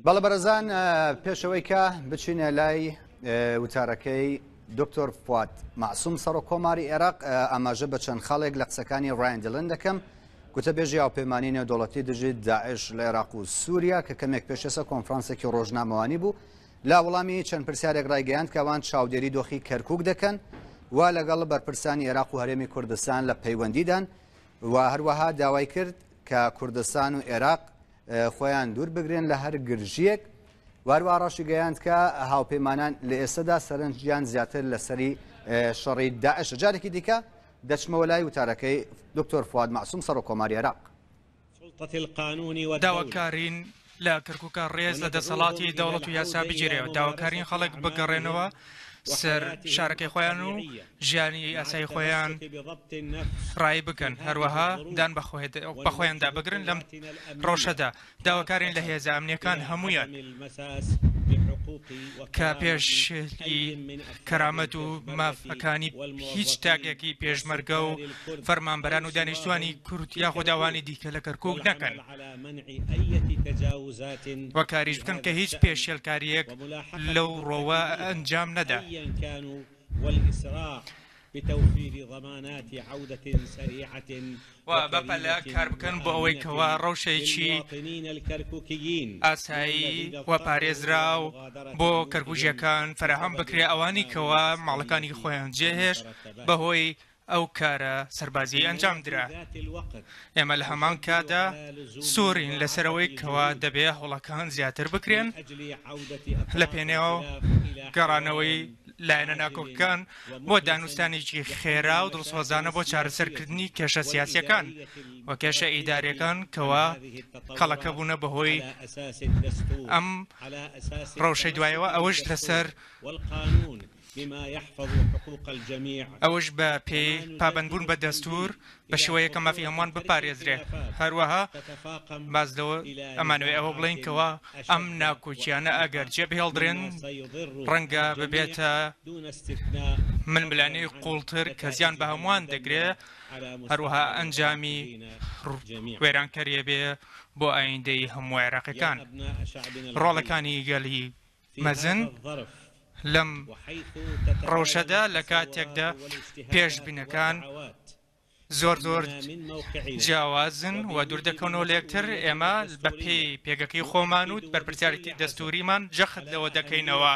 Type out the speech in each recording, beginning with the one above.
بەڵێ بەڕێزان پێشەوەی کە بچینە لای وتارەکەی دکتۆر فواد معسووم سەڕۆک کۆماری عێراق ئاماژە بە چەند خاڵێک لە قسەکانی ڕایندلن دەکەم گوتە بێژی هاوپەیمانانی نێودوڵەتی دژیت داعش لە عێراق و سووریا کە کەمێک پێشێسە کۆنفرانسێکی ڕۆژنامەوانی بوو لە وڵامی چەند پرسیارێک ڕایگەیاند کە ئەوان چاودێری دۆخی کەرکوک دەکەن و لەگەڵ بەرپرسانی عێراق و هەرێمی کوردستان لە پەیوەندیدان و هەروەها داوای کرد کە کوردستان و عێراق خۆیان دوور بگرن لە هەر گرژیەک واروا ڕەشی گەیاند کە هاوپەیمانان لە ئێستادا سەرنجیان زیاتر لەسەری شەڕی داعش جارێکی دیکە دەچمەوە لای وتارەکەی دکتۆر فواد معسوم سەر و کۆماری عێراق داواکارین لە کەرکوکە ڕێز لە دەسەڵاتی دەوڵەت و یاسا بگیرێ و داواکارین خەڵک بگەڕێنەوە سەر شارەکەی خۆیان و ژیانی ئاسایی خۆیان ڕایی بکەن هەروەها دان بە خۆیاندا بگرن لەم ڕەوشەدا داواکارین لە هێزە ئەمنیەکان هەمویان کە پێش کەرامەت و ماف ەکانی هیچ تاکێکی پێشمەرگە و فەرمانبەران و دانیشتوانی کورد یاخود ئەوانی دیکە لە کەرکوک نەکەن و کاریش بکەن کە هیچ پێشێلکاریەک لەو ڕۆوە ئەنجام نەدا. و بە پەلە کار بکەن بۆ ئەوەی کەوا ڕەوشەیەکی ئاسایی و پارێزراو بۆ کەرکووکییەکان فەراهەم بکرێ ئەوانی کەوا ماڵەکانی خۆیان جێهێشت بەهۆی ئەو کارە سەربازیی ئەنجام درا ئێمە لە هەمان کاتدا سوورین لەسەرەوەی کەوا دەبێ هەوڵەکان زیاتر بکرێن لە پێنێو گەڕانەوەی لایەنە ناکۆکەکان بۆ دانوستانێکی خێرا و دڵسۆزانە بۆ چارەسەرکردنی کێشە سیاسیەکان و کێشە ئیدارەکان کەوا کەڵەکە بوونە بەهۆی ئەم ڕەوشەی دوایەوە ئەوەش لەسەر ئەوش بە پێی پابندبوون بە دەستور بە شێوەیەک کە مافی هەمووان بپارێزرێ. هەروەها باس لەوە ئەمانەوێ ئەوە بڵێین کەوا ئەم ناکۆکیانە ئەگەر جێبهێڵدرێن ڕەنگە ببێتە ململانێی قووڵتر کە زیان بە هەمووان دەگرێ هەروەها ئەنجامی وێرانکەرێ بێ بۆ ئایندەی هەموو عێراقیەکان ڕۆڵەکانی گەلی مەزن لەم ڕەوشەدا لە کاتێکدا پێشبینەکان زۆر زۆر جیاوازن و دوور دەکەونەوە لە یەکتر، ئێمە بە پێی پێگەکەی خۆمان و بەرپرسیارێتی دەستووریمان جەخت لەوە دەکەینەوە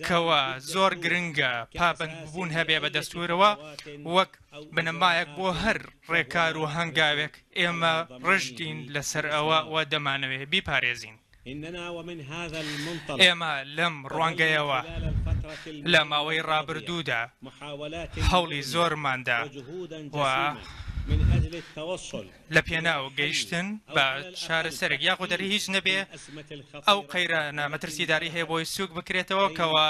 کەوا زۆر گرنگە پابەندبوون هەبێ بە دەستوورەوە وەک بنەمایەک بۆ هەر ڕێکار و هەنگاوێک ئێمە ڕژدین لەسەر ئەوە و دەمانەوێ بیپارێزین. ئێمە لەم ڕوانگەیەوە لە ماوەی ڕابردوودا هەوڵی زۆرمان دا و لە پێناو گەیشتن بە چارەسەرێک یاخود ئەگەر هیچ نەبێ ئەو قەیرانە مەترسیداری هەیە بۆی سووک بکرێتەوە کەوا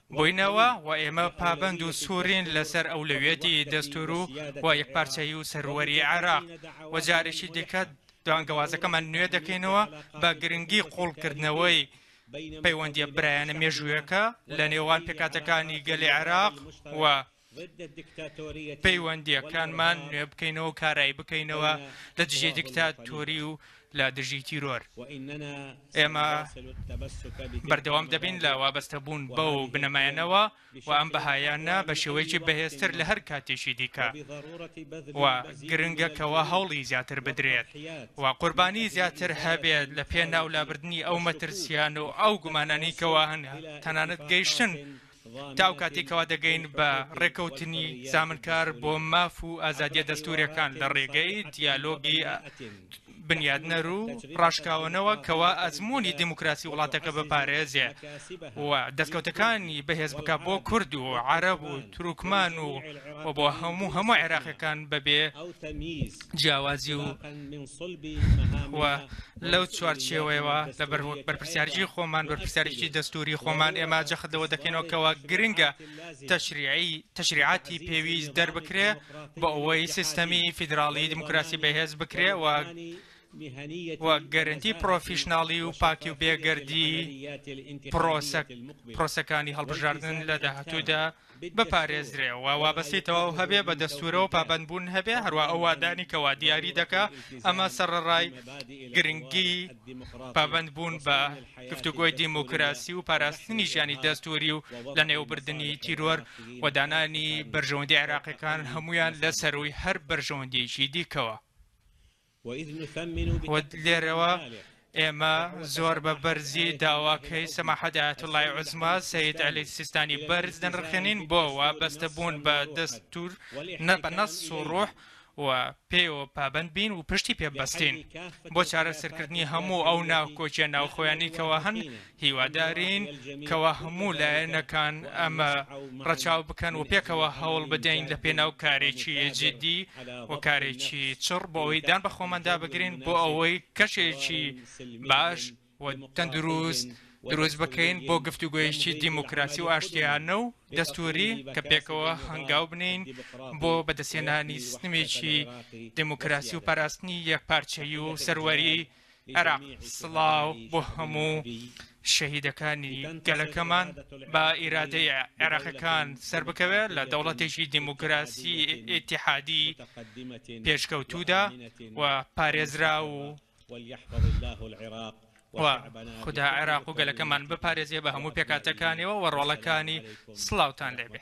بووینەوە و ئێمە پابەند و سوورین لەسەر ئەولەویەتی دەستوور و و یەکپارچەیی و سەروەری عێراق و جارێکی دیکە بانگەوازەکەمان نوێ دەکەینەوە بە گرنگی قووڵکردنەوەی پەیوەندییە برایانە مێژوویەکە لە نێوان پێکهاتەکانی گەلی عێراق و پەیوەندییەکانمان نوێ بکەینەوە کارایی بکەینەوە لە دژی دیکتاتۆری و لە دژی تیرۆر ئێمە بەردەوام دەبین لە وابەستە بوون بە و بنەمایەنەوە و ئەم بەهایانە بە شێوەیەکی بەهێزتر لە هەر کاتێکی دیکە و گرنگە کەەوە هەوڵی زیاتر بدرێت و قوربانی زیاتر هەبێت لە پێ ناولابردننی ئەو مەترسیان و ئەو گومانانی کەەوە هەن تەنانەت گەیشتن تا ئەو کاتەی کەوا دەگەین بە ڕێکەوتنی زامنکار بۆ ماف و ئازادیە دەستوریەکان لە ڕێگەی دیالۆگی بنیادنەر و ڕاشکاوەنەوە کەوا ئەزمموی دیموکراسی وڵاتەکە بپارێزێ و دەستکەوتەکانی بەهێز بکە بۆ کورد و عرب و تروکمان و و بۆ هەموو هەموو عێراقەکان بەبێ جیاوازی و لەو چوارچێوەیەوە لە بەرپرسیارجی خۆمان بەرپرسیارێکی دەستوری خۆمان ئێمە جەخت لەوە دەکەینەوە کەەوە گرنگە تەشریعی تەشریعاتی پێویست دەربکرێ بۆ ئەوەی سیستەمی فیدراڵی دیموکراسی بەهێز بکرێ و و گەرنتی پرۆفیشنناڵی و پاکی و بێگەردی پرۆسەکانی هەڵبژاردن لە داهاتوودا بپارێزرێ و وابەستەی تەواو هەبێ بە دەستوورەوە پابەند بوون هەبێ هەروا ئەو وادانی کە وا دیاری دەکا ئەمە سەڕەڕای گرنگی پابەند بوون بە گفتوگۆی دیموکراسی و پاراستنی ژیانی دەستووری و لە نێوبردنی تیرۆر و دانانی بەرژەوەندی عێراقیەکان هەمویان لە سەرووی هەر بەرژەوەندیەکی دیکەوە. و لێرەوە ئێمە زۆر بە بەرزی داواکەی سەماحەت ئایەتوڵای عوزما سەید عەلی سیستانی بەرز دەنرخێنین بۆ وا بەستەبوون بە دەستور نە بە نەس و ڕۆح و پێوە پابند بین و پشتی پێبەستین بۆ چارەسەرکردنی هەموو ئەو ناوکۆچیە ناوخۆیانی کەەوە هەن هیوادارین کەوا هەموو لایەنەکان ئەمە ڕەچاو بکەن و پێکەوە هەوڵ بدەین لە پێناو کارێکی جدی و کارێکی چڕ بۆ ئەوەی دان بەخۆماندا بگرین بۆ ئەوەی کەشێکی باش و تەندروست دروست بکەین بۆ گفتوگۆیشتی دیموکراسی و ئاشتیانە و دەستوری کە پێکەوە هەنگاو بنین بۆ بەدەستێنانی سنمێکی دیموکراسی و پاراستنی یەکپارچەی و سەروەری عێراق سڵاو بۆ هەموو شەهیدەکانی گەلەکەمان با ئیرادەی عێراقەکان سەربکەوێت لە دەوڵەتێکی دیموکراسی ئتیحادی پێشکەوتوودا و پارێزرا و خدا عێراق و گەلەکەمان بپارێزیێ بە هەموو پێکاتەکانیەوە و ڕۆڵەکانی سلااوان لێبێ.